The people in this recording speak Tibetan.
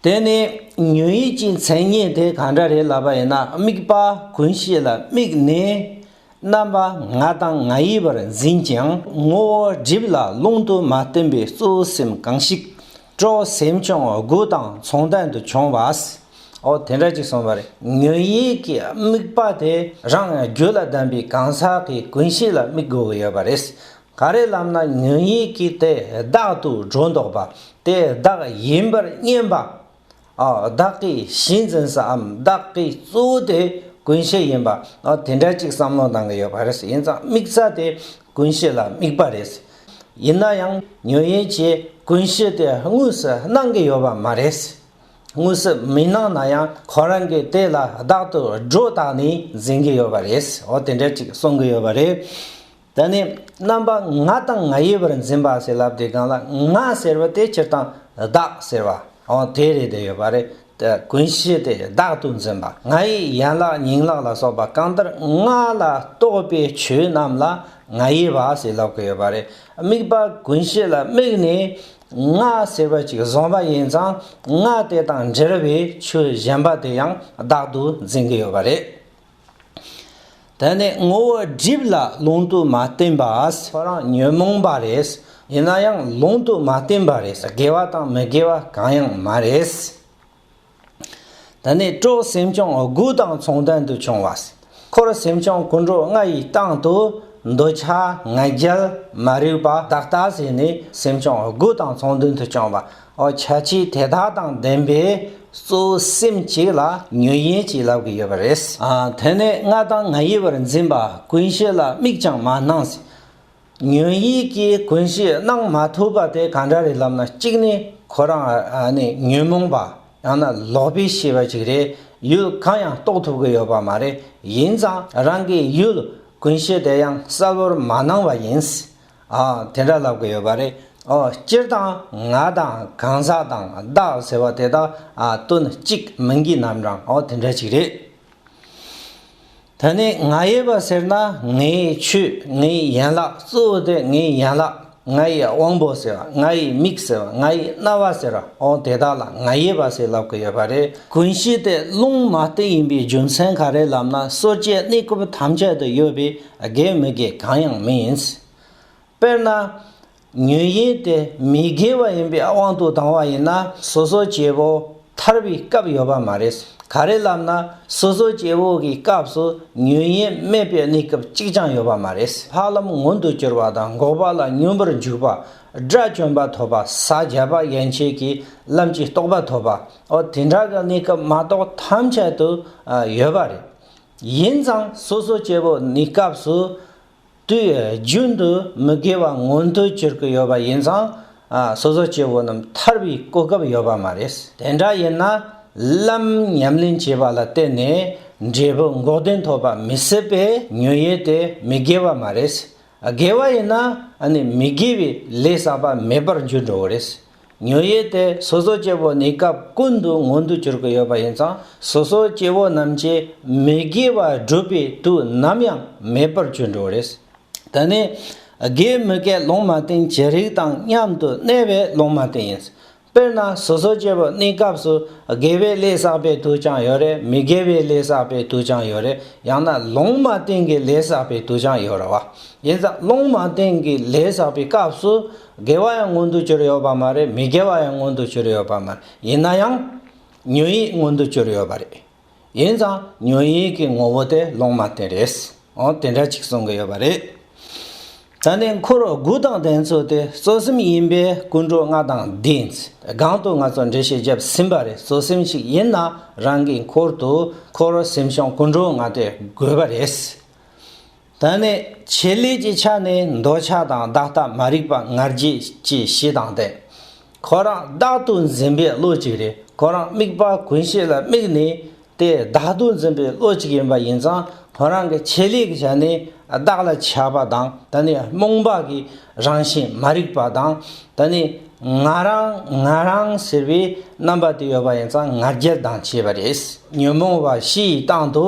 དེ་ནི་ཉོན་ཡིད་ཀྱི་མཚན་ཉིད་དེ་གང་འདྲ་རེད་ལབ་པ་ཡིན་ན་དམིགས་པ་ཀུན་ཤེས་ལ་དམིགས་ནས་རྣམ་པ་ང་དང་ང་ཡི་བར་འཛིན་ཀྱང་ངོ་བོ་སྒྲིབ་ལ་ལུང་དུ་མ་སྟོན་པའི་གཙོ་བོ་སེམས་གང་ཞིག་སྤྲོ་སེམས་ཀྱང་དགུ་དང་མཚུངས་ལྡན་དུ་བྱུང་བ་འོ་དེ་འདྲ་ཅིག་སོང་བ་རེད་ཉོན་ཡིད་ཀྱི་དམིགས་པ་དེ་རང་རྒྱུད་ལ་ལྡན་པའི་གང་ཟག་གི་ཀུན་ཤེས་ལ་དམིགས་དགོས་ཀྱི་ཡོད་པ་རེད་ག་རེ་ལབ་ན་ཉོན་ཡིད་ཀྱི་དེ་བདག་ཏུ་སྒྲོ་འདོགས་པ་དེ་བདག་ཡིན་པར་བསྙེན་པ། བདག་གི་གཞི་འཛིན་སའམ་བདག་གི་གཙོ་བོ་དེ་ཀུན་བྱེད་ཡིན་པ་དེ་འདྲ་གཅིག་བསམ་བློ་གཏང་གི་ཡོད་པ་རེད། ཡིན་ཙང་དམིགས་ས་དེ་ཀུན་བྱེད་ལ་དམིགས་པ་རེད། ཡིན་ན་ཡང་ཉོན་ཡིད་ཀྱི་ཀུན་བྱེད་དེ་དངོས་སུ་སྣང་གི་ཡོད་པ་མ་རེད། དངོས་སུ་མི་སྣང་ན་ཡང་ཁོ་རང་གིས་དེ་ལ་བདག་ཏུ་སྒྲོ་བཏགས་ནས་འཛིན་གི་ཡོད་པ་རེད། དེ་འདྲ་གཅིག་གསུང་གི་ཡོད་པ་རེད། དེ་ནས་རྣམ་པ་ང་དང་ང་ཡི་བར་འཛིན་པ་ཞེས་ལབ་དེ་གང་ལ་ང་ཟེར་བ་དེ་སྤྱིར་བཏང་བདག་ཟེར་བ་འོང་དེ་རེད་དེ་ཡོད་པ་རེད་དེ་ཀུན་གཞི་དེ་བདག་ཏུ་འཛིན་པ་ང་ཡི་ཡན་ལག་ཉིང་ལག་ལ་སོགས་པ་གང་ལྟར་ང་ལ་གཏོགས་པའི་ཆོས་རྣམས་ལ་ང་ཡི་བ་ཞེས་ལབ་ཀི་ཡོད་པ་རེད་དམིགས་པ་ཀུན་གཞི་ལ་དམིགས་ནས་ང་ཟེར་བ་ཅིག་བཟུང་བ་ཡིན་ཙང་ང་དེ་དང་འབྲེལ་བའི་ཆོས་གཞན་པ་དེ་ཡང་བདག་ཏུ་འཛིན་གི་ཡོད་པ་རེད། དེ་ནི་ངོ་བོ་སྒྲིབ་ལ་ལུང་དུ་མ་བསྟན་པ་ཁོ་རང་ཉོན་མོངས་པ་རེད་ཡིན་ན་ཡང་ལུང་དུ་མ་བསྟན་པ་རེད་དགེ་བ་དང་མི་དགེ་བ་གང་ཡང་མ་རེད། དེ་ནི་སྤྲོ་སེམས་ཀྱང་དགུ་དང་མཚུངས་ལྡན་དུ་བྱུང་བ། འཁོར་སེམས་ཀྱང་ཀུན་འགྲོ་ལྔ་ཡི་སྟེང་དུ་འདོད་ཆགས་ང་རྒྱལ་མ་རིག་པ་དག་ལྟ་བྱས་ནས་སེམས་ཀྱང་དགུ་དང་མཚུངས་ལྡན་དུ་བྱུང་བ། བྱ་བྱེད་དེ་དག་དང་ལྡན་པའི་གཙོ་བོ་སེམས་གཅིག་ལ་ཉོན་ཡིན་གྱིས་ལབ་ཀྱི་ཡོད་པ་རེད། དེ་ནས་ང་དང་ང་ཡི་བར་འཛིན་པ་ཀུན་ཤེས་ལ་དམིགས་ཀྱང་མ་གནང་ཟིན། ཉོན་ཡིད་ཀྱིས་ཀུན་ཤེས་གནང་མ་ཐུབ་པ་དེ་གང་འདྲ་རེད་ལབ་ན་གཅིག་ནི་ཁོ་རང་ནི་ཉོན་མོངས་པ་ཡང་ན་ལོག་པའི་ཤེས་པ་ཅིག་རེད་ཡུལ་གང་ཡང་རྟོགས་ཐུབ་ཀྱི་ཡོད་པ་མ་རེད་ཡིན་ཙང་རང་གི་ཡུལ་ཀུན་ཤེས་དེ་ཡང་གསལ་བོར་མ་གནང་བ་ཡིན། ཨ། དེ་འདྲ་ལབ་གི་ཡོད་པ་རེད། ཨོ། སྤྱིར་བཏང་ང་དང་གང་ཟག་དང་བདག་ཟེར་བ་དེ་དག་དོན་གཅིག་མིང་གི་རྣམ་གྲངས་ཨོ་དེ་འདྲ་ཞིག་རེད། ད་ནི་ང་ཡོད་པ་ཟེར་ན་ངའི་ཆོས་ངའི་ཡན་ལག་གཙོ་བོ་དེ་ངའི་ཡན་ལག་ང་ཡི་དབང་པོ་ཟེར་བ་ང་ཡི་མིག་ཟེར་བ་ང་ཡི་རྣ་བ་ཟེར་བ་ཨོ་དེ་དག་ལ་ང་ཡོད་པ་ཞེས་ལབ་གི་ཡོད་པ་རེད། ཀུན་གཞི་སྟེ་རླུང་མ་སྟེ་ཡིན་པའི་རྒྱུ་མཚན་ག་རེ་ལབ་ན་སོ་སྐྱེའི་གནས་སྐབས་ཐམས་ཅད་དུ་ཡོད་པའི་དགེ་མི་དགེ་གང་ཡང་མིན། དཔེར་ན། ཉོན་ཡིན་དེ་མི་དགེ་བ་ཡིན་པའི་དབང་དུ་ལྡང་བ་ཡིན་ན་སོ་སོ་སྐྱེ་བོ་ཐར་བའི་སྐབས་ཡོད་པ་མ་རེད། ག་རེ་ལབ་ན་སོ་སོ་སྐྱེ་བོ་གི་སྐབས་སུ་ཉོན་ཡིན་མེད་པའི་གནས་སྐབས་གཅིག་ཀྱང་ཡོད་པ་མ་རེད། འཕགས་ལམ་མངོན་དུ་གྱུར་པ་དང་འགོག་པ་ལ་སྙོམས་པར་འཇུག་པ། དགྲ་བཅོམ་པ་ཐོབ་པ་ས་བརྒྱད་པ་ཡན་ཆད་ཀྱི་ལམ་གྱི་རྟོགས་པ་ཐོབ་པའོ་དེ་འདྲ་གི་གནས་སྐབས་མ་གཏོགས་ཐམས་ཅད་དུ་ཡོད་པ་རེད། ཡིན་ཙང་སོ་སོའི་སྐྱེ་བོ་གནས་སྐབས་སུ། དུས་ཡུན་རྒྱུན་དུ་མི་དགེ་བ་མངོན་དུ་གྱུར་གྱི་ཡོད་པ་ཡིན་ཙང། སོ་སོའི་སྐྱེ་བོ་རྣམས་ཐར་བའི་གོ་སྐབས་ཡོད་པ་མ་རེད། དེ་འདྲ་ཡིན་ན། ལམ་ཉམས་ལེན་བྱས་པ་ལ་བརྟེན་ནས་འབྲས་བུ་འགོག་བདེན་ཐོབ་པ་མི་སྲིད་པས་ཉོན་ཡིད་དེ་མི་དགེ་བ་མ་རེད། དགེ་བ་ཡིན་ན་ནི་མི་དགེ་བའི་ལས་བསགས་པ་མེད་པར་འགྱུར་འགྲོ་བ་རེད། ཉོན་ཡིད་དེ་སོ་སོ་སྐྱེ་བོ་ནི་སྐབས་ཀུན་ཏུ་མངོན་དུ་གྱུར་གྱི་ཡོད་པ་ཡིན་ཙང་སོ་སོ་སྐྱེ་བོ་རྣམས་ཀྱི་མི་དགེ་བ་བསྒྲུབ་པའི་དུས་ནམ་ཡང་མེད་པར་གྱུར་འགྲོ་བ་རེད། འདི་ནི་དགེ་མི་དགེ་སློང་མ་སྟེང་ཇི་རིགས་དང་མཉམ་དུ་གནས་པའི་སློང་མ་སྟེང་ཡིན། དཔེར་ན་སོ་སོ་སྐྱེ་བོ་གནས་སྐབས་སུ་དགེ་བའི་ལས་བསགས་པའི་དུས་ཀྱང་ཡོད་རེ་མི་དགེ་བའི་ལས་བསགས་པའི་དུས་ཀྱང་ཡོད་རེ་ཡང་ན་སློང་མ་སྟེང་གི་ལས་བསགས་པའི་དུས་ཀྱང་ཡོད་རེ་བ། ཡིན་ཙང་སློང་མ་སྟེང་གི་ལས་བསགས་པའི་སྐབས་སུ་དགེ་བ་ཡང་མངོན་དུ་གྱུར་ཡོད་པ་མ་རེད་མི་དགེ་བ་ཡང་མངོན་དུ་གྱུར་ཡོད་པ་མ་རེད་ཡིན་ན་ཡང། ཉོན་ཡིད་མངོན་དུ་གྱུར་ཡོད་པ་རེད། ཡིན་ཙང་ཉོན་ཡིད་ཀྱི་ངོ་བོ་དེ་ལོང་མ་བསྟན་རེད། འོང་དེ་འདྲ་ཅིག་གསུང་གི་ཡོད་པ་རེད། ད་ནི་འཁོར་དགུ་དང་ལྡན་ཚུལ་དེ་གཙོ་སེམས་ཡིན་པས་ཀུན་འགྲོ་ལྔ་དང་ལྡན་ཚུལ་སྒང་དུ་ང་ཚོ་འགྲེལ་བཤད་བརྒྱབ་ཟིན་པ་རེད་གཙོ་སེམས་ཞིག་ཡིན་ན་རང་གི་འཁོར་དུ་འཁོར་སེམས་ཤོང་ཀུན་འགྲོ་ལྔ་དེ་དགོས་པ་རེད། ད་ནི་བྱེད་ལས་ཀྱི་ཆ་ནས་འདོད་ཆགས་དང་བདག་ལྟ་མ་རིག་པ་ངར་རྒྱས་སྐྱེ་ཞེས་དང་སྟེ། ཁོ་རང་བདག་ཏུ་འཛིན་པའི་བློ་གཅིག་རེད་ཁོ་རང་དམིགས་པ་ཀུན་བྱེད་ལ་དམིགས་ནས་དེ་བདག་ཏུ་འཛིན་པའི་བློ་གཅིག་ཡིན་པ་ཡིན་ཙང་ཁོ་རང་གི་བྱེད་ལས་ཀྱི་ཆ་ནས་བདག་ལ་ཆགས་པ་དང་ད་ནི་རྨོངས་པ་གི་རང་བཞིན་མ་རིག་པ་དང་ད་ནི་ང་རང་ང་རང་ཟེར་བའི་རྣམ་པ་དེ་ཡོད་པ་ཡིན་ཙང་ངར་རྒྱལ་དང་བཅས་པ་རེད་ཉོན་མོངས་པ་བཞི་ཡི་སྟེང་དུ